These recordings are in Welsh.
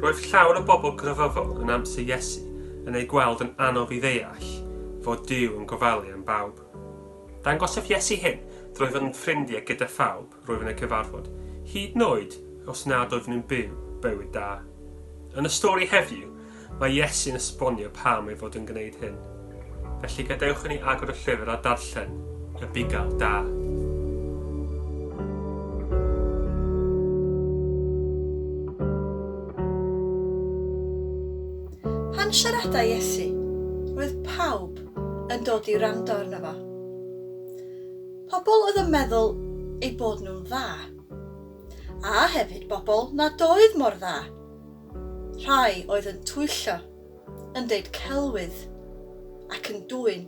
Roedd llawer o bobl grefyddol yn amser Iesu yn ei gweld yn anodd i ddeall fod Duw yn gofalu am bawb. Dangosaf Iesu hyn drwy fod yn ffrindiau gyda phawb. roedd yn y cyfarfod, hyd noed os nad oeddwn yn byw bywyd da. Yn y stori heddiw, mae Iesu'n esbonio pam ei fod yn gwneud hyn. Felly gadewch i ni agor y llyfr a darllen y bugail da. Pan siarada Iesu, roedd pawb yn dod i wrando arno fo. Pobl oedd yn meddwl eu bod nhw'n dda. A hefyd bobl nad oedd mor dda. Rhai oedd yn twyllo, yn deud celwydd, ac yn dwyn.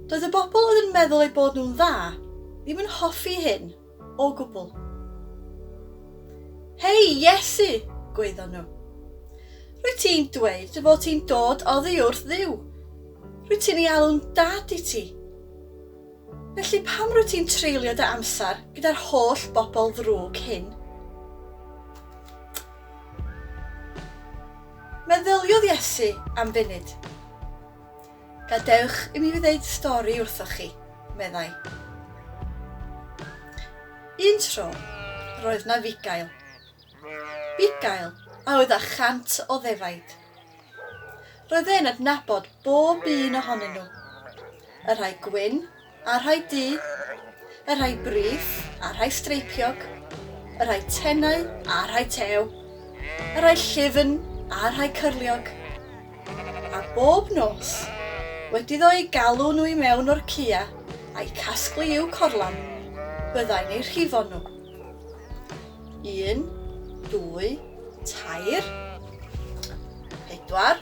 Doedd y bobl oedd yn meddwl eu bod nhw'n dda ddim yn hoffi hyn. O gwbl. Hei, Iesu! gwaeddon nhw. Rwyt ti'n dweud dy fod ti'n dod oddi wrth Dduw. Rwyt ti'n ei alw'n Dad i ti. Felly pam rwyt ti'n treulio dy amser gyda'r holl bobl ddrwg hyn? Meddyliodd Iesu am funud. Gadewch i mi ddeud stori wrthoch chi, meddai. Un tro, roedd na fugail. Bugail a oedd â chant o ddefaid. Roedd e'n adnabod bob un ohonyn nhw. Y rhai gwyn, A rhai du, y rhai brith, a rhai streipiog, y rhai tenau, a rhai tew, y rhai llyfn, a rhai cyrliog. A bob nos, wedi ddo eu galw nhw i mewn o'r cua, a'i casglu i'w corlan, byddai'n eu rhifo nhw. Un, dwy, tair, pedwar,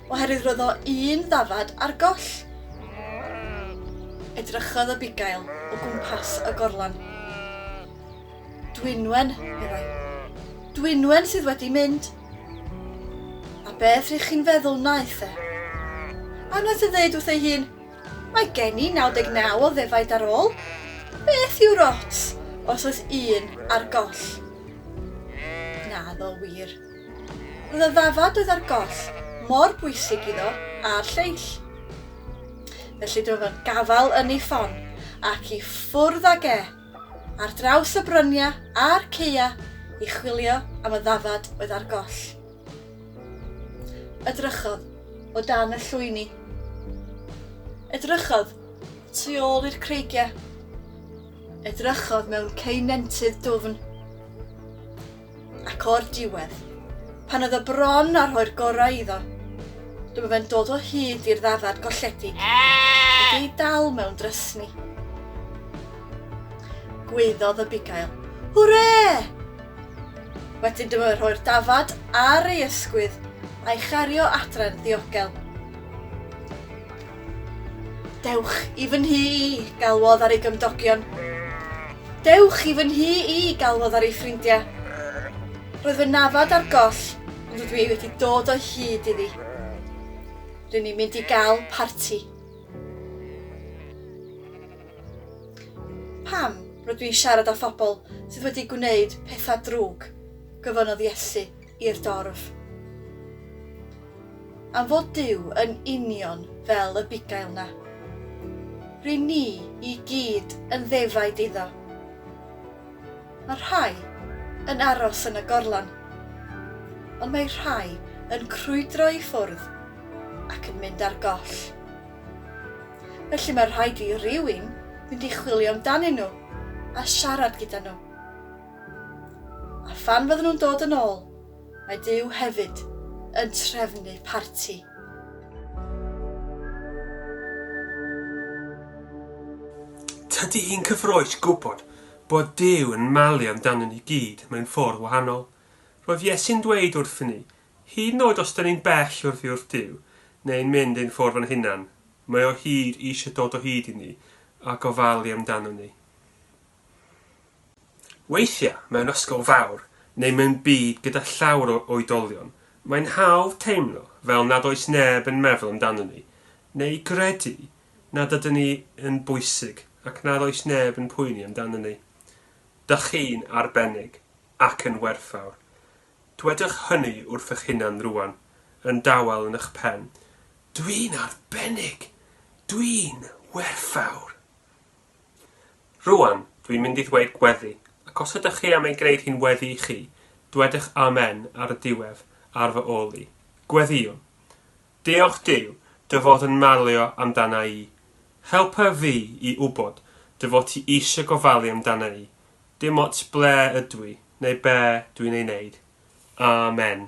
Oherwydd roedd o un ddafad ar goll. Edrychodd Abigail o gwmpas y gorlan. Dwynwen, meddai. Dwynwen sydd wedi mynd. A beth rydych chi'n feddwl wnaeth e? A wnaeth e ddeud wrth ei hun, Mae gen i 99 o ddefaid ar ôl. Beth yw'r ots os oes un ar goll? Naddo wir. Roedd y ddafad oedd ar goll mor bwysig iddo a'r lleill. Felly dywedodd gafael yn ei ffon, ac i ffwrdd ag e, ar draws y brynia a'r ceua i chwilio am y ddafad oedd ar goll. Edrychodd o dan y llwyni. Edrychodd tu ôl i'r creigiau. Edrychodd mewn ceunentydd dwfn. Ac o'r diwedd, pan oedd o bron â rhoi'r gorau iddo, dyma fe'n dod o hyd i'r ddafad golledig wedi'i dal mewn drysni. Gwaeddodd y bugail, Hwre! Wedyn dyma fe'n rhoi'r dafad ar ei ysgwydd a'i chario adre'n ddiogel. Dewch i fy nhŷ i, galwodd ar ei gymdogion. Dewch i fy nhŷ i, galwodd ar ei ffrindiau. Roedd fy nafad ar goll, ond rydw i wedi dod o hyd iddi. Rydyn ni'n mynd i gael parti. Pam rydw i'n siarad â phobl sydd wedi gwneud pethau drwg? gofynnodd Iesu. i'r dorf. Am fod Duw yn union fel y bugail 'na. Ry'n ni i gyd yn ddefaid iddo. Mae rhai yn aros yn y gorlan, ond mae rhai yn crwydro i ffwrdd ac yn mynd ar goll. Felly mae rhaid i rywun fynd i chwilio amdanyn nhw a siarad gyda nhw. A phan fydden nhw'n dod yn ôl, mae Duw hefyd yn trefnu parti. Tydi hi'n cyffrous gwybod bod Duw yn malu amdano ni gyd mewn ffordd wahanol. Roedd Iesu'n dweud wrthyn ni, hyd yn oed os dyn ni'n bell oddi wrth Duw, neu'n mynd ein ffordd o'n hunan, mae o hyd eisiau dod o hyd i ni a gofalu amdano ni. Weithiau, mewn ysgol fawr, neu mewn byd gyda llawer o oedolion, mae'n hawdd teimlo fel nad oes neb yn meddwl amdanon ni, neu gredu nad ydyn ni yn bwysig ac nad oes neb yn poeni amdanon ni. Dych chi'n arbennig ac yn werthfawr. Dwedwch hynny wrthych hunan rŵan, yn dawel yn eich pen, Dwi'n arbennig! Dwi'n werthfawr! Rŵan, dw i'n mynd i ddweud gweddi, ac os ydych chi am ei gwneud hi'n weddi i chi, dwedwch 'Amen' ar y diwedd, ar fy ôl i. Gweddïwn! Diolch Duw, dy fod yn malio amdana i. Helpa fi i wybod dy fod ti eisiau gofalu amdana i, dim ots ble ydw i, neu be dw i'n ei wneud. Amen.